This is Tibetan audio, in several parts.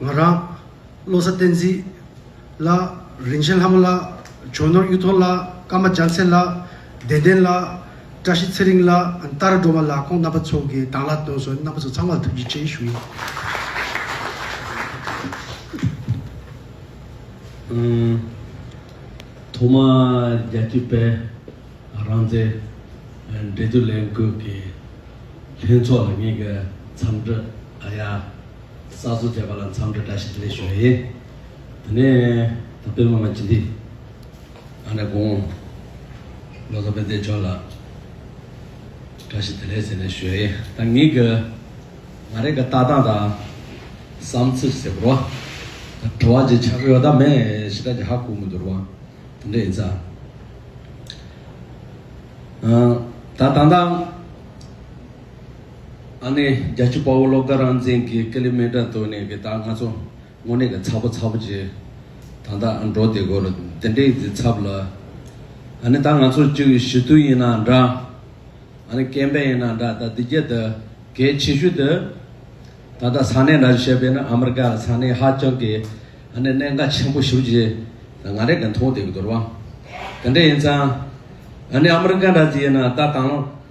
ང་རང། བློ་གསལ་བསྟན་འཛིན། ལགས། རིན་ཆེན་ལྷ་མོ་ལགས། བྱོན་ནོར་གཡུ་ཐོག་ལགས། ཀརྨ་རྒྱ་མཚན་ལགས། བདེ་ལྡན་ལགས། བཀྲ་ཤིས་ཚེ་རིང་ལགས། རྟ་ར་སྒྲོལ་མ་ལགས་ཁོང་རྣམ་པ་ཚོ་གི་དང་ལག་སྟོན་སོགས་རྣམ་པ་ཚོ་ཚང་མར་ཐུགས་རྗེ་ཆེ་ཞུ་ཡི། ཐོག་མར་རྒྱལ་སྤྱིའི་དཔལ་རང་བཙན་འབྲེལ་མཐུད་ལས་འགུལ་གྱི་ལྷན་ཚོགས་ལ་ངེད་ཀྱི་འཚམས་འདྲི་ཨ་ཡ། གསར་བཟོ་བྱས་པ་ལ་མཚམས་འདྲི་བཀྲ་ཤིས་བདེ་ལེགས་ཞུ་བ་ཡིན། དེ་ནས་ད་སྤེལ་མ་ང་ཇི་འདི། ཨ་ནེ་དགོངས། བློ་བཟང་དཔལ་ལྡན་མཆོག་ལ། བཀྲ་ཤིས་བདེ་ལེགས་ཟེར་ནས་ཞུ་བ་ཡིན། ད་ངེད་ཀྱི། ང་རེ་ག་ལྟ་སྟངས་དང། བསམ་ཚུལ་ཟེར་བར། ད་བྲོ་བ་ཅིག་ཆགས་ཀྱི་ཡོད་ད་མེ་ཤི་ཏག་གི་ཧ་གོ་མི་འདུག་རུང། དེ་འདྲ་ཡིན་ཚ། ད་ད་ལྟ། ཨ་ནེ་རྒྱལ་ཆུ་དཔའ་བོ་སློབ་དགའ་རང་བཙན་གྱི་ཀ་ལི་མེ་དྲ་ཐོས་ནས་གི་ད་ང་ཚོ་དངོས་གནས་གི་ཚ་པོ་ཚ་པོ་བྱེད་ད་ད་འགྲོ་དེ་གོ་རོ་དེ་འདྲའི་གི་ཚབ་ལ་ཨ་ནེ་ད་ང་ཚོ་བཅུ་གི་ཞི་དུལ་ཡིན་ན་འདྲ་ཨ་ནེ་སྐྱེ་འཕེལ་ཡིན་ན་འདྲ་ད་འདི་རྒྱལ་ད་གལ་ཆེ་ཤོས་ད་ད་ད་ས་གནས་འདྲ་བྱེད་པས་ན་ཨ་མི་རི་ཀ་ལ་ས་གནས་ཧ་ཅང་གི་ཨ་ནེ་གནད་འགག་ཆེན་པོ་ཞུ་བྱེད་ད་ང་རེ་གི་མཐོང་དེ་གི་དོར་བ་དེ་འདྲ་ཡིན་ཙང་ཨ་ནེ་ཨ་མི་རི་ཀ་འདྲ་ཡིན་ན་ད་དང།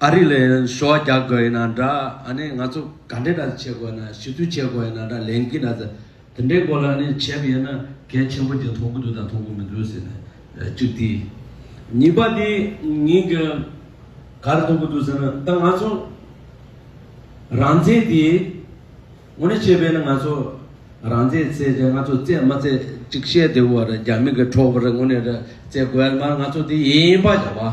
ཨ་རི་ལ་ཡང་ཞོ་བ་རྒྱག་དགོས་ཡིན་ན་འདྲ་ཨ་ནི་ང་ཚོ་ག་འདྲའི་འདྲ་བྱེད་དགོས་ཡིན་ན་ཞུ་ཚུལ་བྱེད་དགོས་ཡིན་ན་འདྲ་ལན་གྱིས་ན་ཟེར། དེ་འདྲའི་སྐོར་ལ་ཨ་ནི་བྱས་པ་ཡིན་ན་གལ་ཆེན་པོ་དེ་མཐོང་གི་འདུག་དང་མཐོང་གི་མི་འདུག་ཟེར་ནས་གཅིག་དེ། གཉིས་པ་དེ་ཉིད་ཀྱི་ག་རེ་མཐོང་གི་འདུག་ཟེར་ན་ད་ང་ཚོ་རང་བཙན་དེ་ངོ་ནས་བཤད་པས་ན་ང་ཚོ་རང་བཙན་བརྩད་ཆ་ང་ཚོ་བརྩད་མ་བརྩད་གཅིག་བཤད་དེ་བོ་རེད་རྒྱ་མི་གི་ཁྲོ་བོ་རེད་ངོ་ནས་རེད་བརྩད་དགོས་ཡ་ལ་མ་རེད་ང་ཚོ་དེ་ཡིན་པ་བྱ་བ།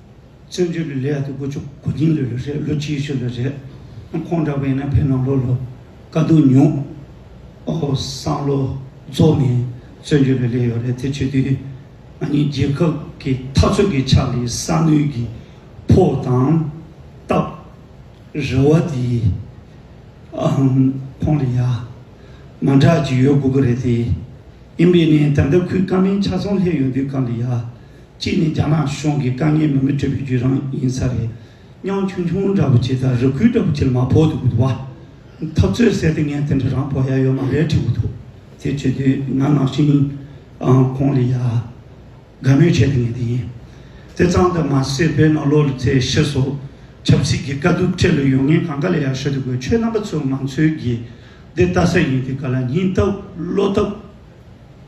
བཙན་བྱོལ་གྱི་ལས་དགུ་བཅུ་གོ་རྒྱིན་ལོས་ལོས་རེད་ལོ་གཅིག་ཤོས་ལོས་རེད། ཁོང་འདྲ་བས་ན་ཕེ་ནོ་ལོ་ལོ་དཀའ་སྡུག་མྱོང། ཨོ་སང་ལོ་རྫོགས་ནས་བཙོན་བྱོལ་ལོས་ལས་ཡོད་རེད་དེ་ཆོས་དུས་ང་གཉིས་རྒྱལ་ཁབ་ཀྱི་འཐབ་རྩོད་ཀྱི་ཆ་ལས་ས་ནུས་ཀྱི་ཕོ་དང་སྟབས། རེ་བ་དེ་ཨང་ཁོང་ལ་ཡ། མ་འདྲ་ཅིག་ཡོད་དགོས་ཀྱི་རེད་དེ། ཡིན་པས་ནས་ད་ལྟ་ཁོའི་ཀ་མེན་ཆ་ཚང་ལྷད་ཡོད་དུས་ཀ་ལ་ཡ། གཅིག་ནི་རྒྱ་ནག་གཞུང་གི་དཀའ་ངལ་མི་མི་སྤྲོད་པའི་བརྒྱུད་རང་ཡིན་ས་རེད་སྙང་ཆུང་ཆུང་འདྲ་པོ་བྱས་ཙང་རི་ཁུལ་འདྲ་པོ་བྱས་ལ་མ་ཕོག་འདུག་བ། འཐབ་རྩོད་ཟེར་ཏེ་ངས་དེ་འདྲ་རང་ཕོག་ཡ་ཡོད་མ་རེད་དྲིས་འུ་ཐུག་ཚེ་བྱོས་དུས་ང་ནང་བཞིན་ཨང་ཁོང་ལས་ཡ། དགའ་མོས་བྱས་ཏེ་ངས་དེ་ཡིན་དེ་གཙང་དུ་མ་སེ་བོད་ནང་ལོག་ལུས་ཚེ་ཤི་སོགས་ཆབ་སྲིད་ཀྱི་དཀའ་སྡུག་འཕྲད་ལུས་ཡོང་ངས་གང་ག་ལས་ཡ་ཤོད་དུ་དགོས་ཁྱོད་རྣམ་པ་ཚོས་ང་ཚོའི་དགེ་བདེ་ལྟ་ས་ཡིན་དེ་ག་ལ་ཉིན་རྟབ་བློ་རྟབ།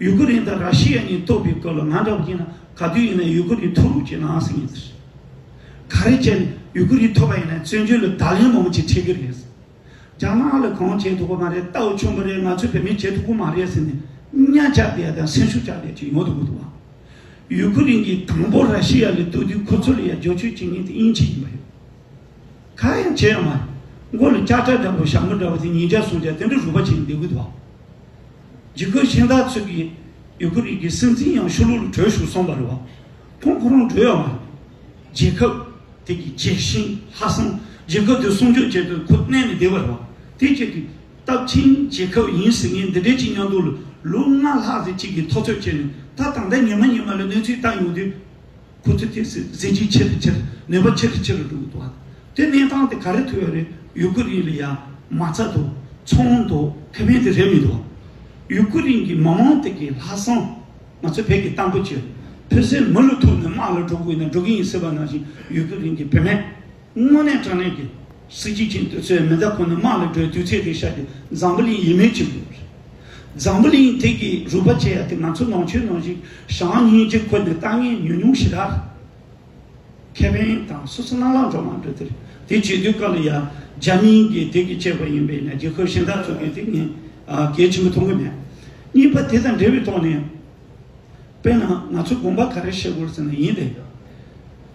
ཡུ་ཀུ་རེན་དང་ར་ཤི་ཡ་གཉིས་གཏོགས་པའི་སྐོར་ལ་ང་འདྲ་བོ་ཀྱིས་ན་ག་དུས་ཡིན་ན་ཡུ་ཀུ་རེན་ཐུག་རུབ་ཀྱི་ནང་ཟིག་ཡིན་ཟེར། ག་རེ་བྱས་ནས་ཡུ་ཀུ་རེན་ཐོབ་པ་ཡིན་ན་བཙོན་འཇུག་ལ་བརྡ་ལན་མང་པོ་ཅིག་འཕྲད་ཀྱི་རེད་ཟེར། རྒྱ་ནག་ལ་གང་བྱས་འདུག་པ་མ་རེད་རྟའུ་ཆུན་པོ་རེད་ང་ཚོའི་བོད་མིས་བྱས་འདུག་པོ་མ་རེད་ཟེར་ནས་གཉའ་བཅག་བསྡད་དང་སེམས་ཤུགས་བཅག་བསྡད་ཅིག་ཡོང་དུ་མི་འདུག་བ། ཡུ་ཀུ་རེན་གྱིས་དང་པོ་ར་ཤི་ཡ་ལ་གཏུགས་དུས་ཁོ་ཚོ་ལ་ཡ་རྒྱོ་ཆོས་བྱེད་མཁན་དེ་དབྱིན་ཇི་ཡིན་པ་རེད། ག་ཡང་བྱས་ཡོད་མ་རེད། མགོ་ལ་སྐྱག་ཁྲ་འདྲ་པོ་ཞྭ་མོ་འདྲ་བོ་དེ་ཉིས་བརྒྱ་སུམ་བརྒྱ་དེ་འདྲ་རུལ་པ་བྱས་ནས་བསྡད་དགོས་འདུག་བ། འཇིགས་སྐུལ་གཞན་དག་ཚུད་ཀྱིས་ཡུ་གུར་རིགས་ཀྱི་སྲིད་འཛིན་ཡང་ཤུ་ལུ་ལུ་བྲོས་བཞུགས་སོང་བ་རེད་བ། ཁོང་ཁོ་རང་བྲོས་ཡོད་མ་རེད། རྒྱལ་ཁབ་དེ་གི་རྒྱལ་གཤིན་ལྷ་བསང་རྒྱལ་ཁབ་དེ་སྲུང་སྐྱོབ་བྱེད་དུས་ཁོ་གནས་ནས་བསྡད་བ་རེད་བ། དེ་བཅས་ཀྱི་སྟབས་ཆེན་རྒྱལ་ཁབ་ཡིན་ཟེར་མཁན་འདི་འདྲའི་གཅིག་ཉང་དུ་ལུག་ལྔ་ལྷག་ཟེར་གཅིག་གིས་ཐོ་ཚོད་བྱས་ནས་ད་དང་ད་ཉི་མ་ཉི་མ་ལ་གནས་ཚུལ་བལྟ་ཡོང་དུས། ཁུ་ཚུར་གྱིས་གཟི་བརྗིད་ཆེ་རུ་ཆེ་རུ་ནུས་པ་ཆེ་རུ་ཆེ་རུ་འགྲོ་གི་འདུག་ཨ། དེ་གནས་སྟངས་དེ་ག་རེ་ཐུག་ཡོད་རེད་ཡུ་ཀུ་རིན་ལ་ཡ་མ་ཚ་འདུག་ཚོང་འདུག་ཁེ་ཕན་དེ་རེད་མི་འདུག་ཨ། ཡུ་ཀུ་རིན་གྱི་མི་མང་དེ་གའི་ལྷག་བསམ་ང་ཚོས་བོད་ཀྱི་གཏམ་དཔེ་བྱོས་ཕོད་སའི་མི་ལུས་ཐུག་ནས་དམག་ལ་འགྲོ་དགོས་ན་འགྲོ་གི་ཡིན་ཟེར་བ་ནང་བཞིན་ཡུ་ཀུ་རིན་གྱི་བུད་མེད་དངོས་གནས་དྲང་གནས་ཀྱི། སྲིད་སྤྱི་ཀྱི་འདོད་ཚུལ་མི་འདྲ་ཁོ་ནི་དམག་ལ་བགྲོད་དུས་ཚེ་འདི་ཤར་གྱི་འཛམ་བུ་གླིང་ཡིན་མོད་ཀྱི། འཛམ་བུ་གླིང་དེ་གའི་རུས་པ་ཅན་དེ་ང་ཚོ་ནང་ཆོས་ནང་བཞིན་ཞང་ཉིན་གཅིག་ཁོ་ནས་ལྟ་ངན་ཉུང་ཉུང་ཞིག་གདའ། ཁེ་ཕན་དང་སོ་སོ་རྣམ་ལང་འགྲོ་མ་འགྲོ་དེར་དེ་བྱེད་དུས་སྐབས་ལ་ཡ་རྒྱ་མིན་གྱི་དེ་གའི་སྐྱེས་པ་ཡིན་པས་ན་རྒྱལ་ཁབ་གཞན་དག་ཚུགས་དུས་དེ་ངས་གལ་ཆེན་པོ་མཐོང་གི་མེད། གཉིས་པ་དེ་དང་འབྲེལ་བའི་ཐོག་ནས་དཔེར་ན་ང་ཚོས་དགོངས་པ་ག་རེ་བཞེས་དགོས་ཟེར་ན་ཡིན་ཏེ།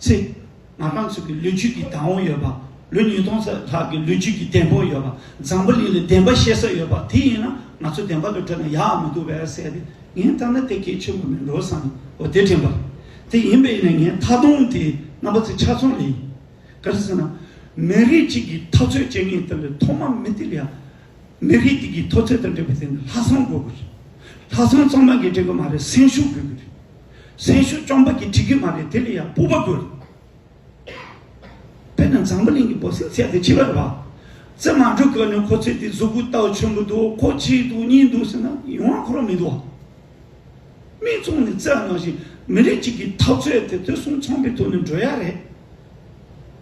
ཚེ། ང་རང་ཚོ་གི་ལོ་རྒྱུས་ཀྱི་དང་བོ་ཡོད་པ། ལོ་ཉིས་སྟོང་ཙམ་ལྷག་གི་ལོ་རྒྱུས་ཀྱི་གཏན་ཕོག་ཡོད་པ། འཛམ་བུ་གླིང་ལ་བདེན་པ་བཤད་ས་ཡོད་པ་དེ་ཡིན་ན་ང་ཚོ་བདེན་པ་ལ་བྲོས་ན་ཡག་མི་འདུག་བས་བསལ་ཏེ་ངས་ལྟར་ན་དེ་གལ་ཆེན་པོ་མིན་འགྲོ་བསམ་བོ་དེ་དྲན་པ་རེད། དེ་ཡིན་པས་ནས་ངས་མཐའ་སྟོང་དེའི་རྣམ་པ་ཚོ་ཆ་ཚང་ལས་ཡིན། ག་རེ་ཟེར་ན། མི་རིགས་གཅིག་གི་འཐབ་རྩོད་བྱེད་མཁན་དེ་ལས་ཐོག་མ་མི་དེ་ལ་ཡང་མི་རིགས་དེ་གའི་མཐོ་ཚད་དང་འབྲེལ་བའི་ཐད་ནས་ལྷ་བསང་དགོས་ཀྱི་རེད། ལྷ་བསང་གཙང་མ་འགས་འགྲིག་གི་མ་རེད་སེམས་ཤུགས་དགོས་ཀྱི་རེད། སེམས་ཤུགས་བཅོམ་པ་འགས་འགྲིག་གི་མ་རེད་དེ་ལ་ཡང་སྤོབས་པ་དགོས་རེད། དཔེར་ན་འཛམ་བུ་གླིང་གི་འབོ་སེང་ཚལ་དེ་ཕྱི་བར་བར་ཙེ་མ་འགྲོ་གི་ནི་ཁོ་ཚེ་དེ་གཟུགས་སྐུ་རྟགས་ཆེན་པོ་འདུག་ཁོ་གཅིག་འདུག་གཉིས་འདུག་ཟེར་ན་ཡོང་བ་ཁོ་རང་མི་འདུག་བ། མི་བཙོང་ནས་རྩེ་ལ་ནང་བཞིན་མི་རིགས་གཅིག་གི་འཐབ་རྩོད་དེ་དེ་གསུམ་ཚོང་པའི་ཐོག་ནས་འགྲོ་ཡ་རེད།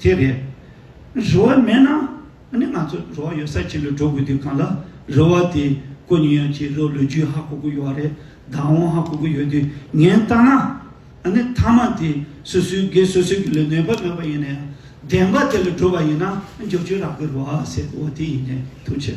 དེ་རེད། རེ་བ་མེད་ན་ནི་ང་ཚོ་རེ་བ་ཡོད་སར་ཕྱིན་ལ་འགྲོ་དགོས་དུས་གང་ལ་རེ་བ་དེ་གོ་ཉེན་ཡང་ཕྱིན་རོགས་ལུས་རྒྱུས་ཧ་གོ་གི་ཡོད་རེད་བདག་དབང་ཧ་གོ་གི་ཡོད་དུས་ངན་བཏང་ན་ནི་མཐའ་མ་དེ་སོ་སོའི་སྒེར་སོ་སོའི་གི་ལ་ནོན་པ་མེད་པ་ཡིན་ན་ཡང་བདེན་པ་དེ་ལ་གྲུབ་པ་ཡིན་ན་ནི་འགྱོགས་ཆོས་རག་གི་རེ་བ་ཟེར་གི་འོ་དེ་ཡིན་ནའི་ཐུགས་ཆེ།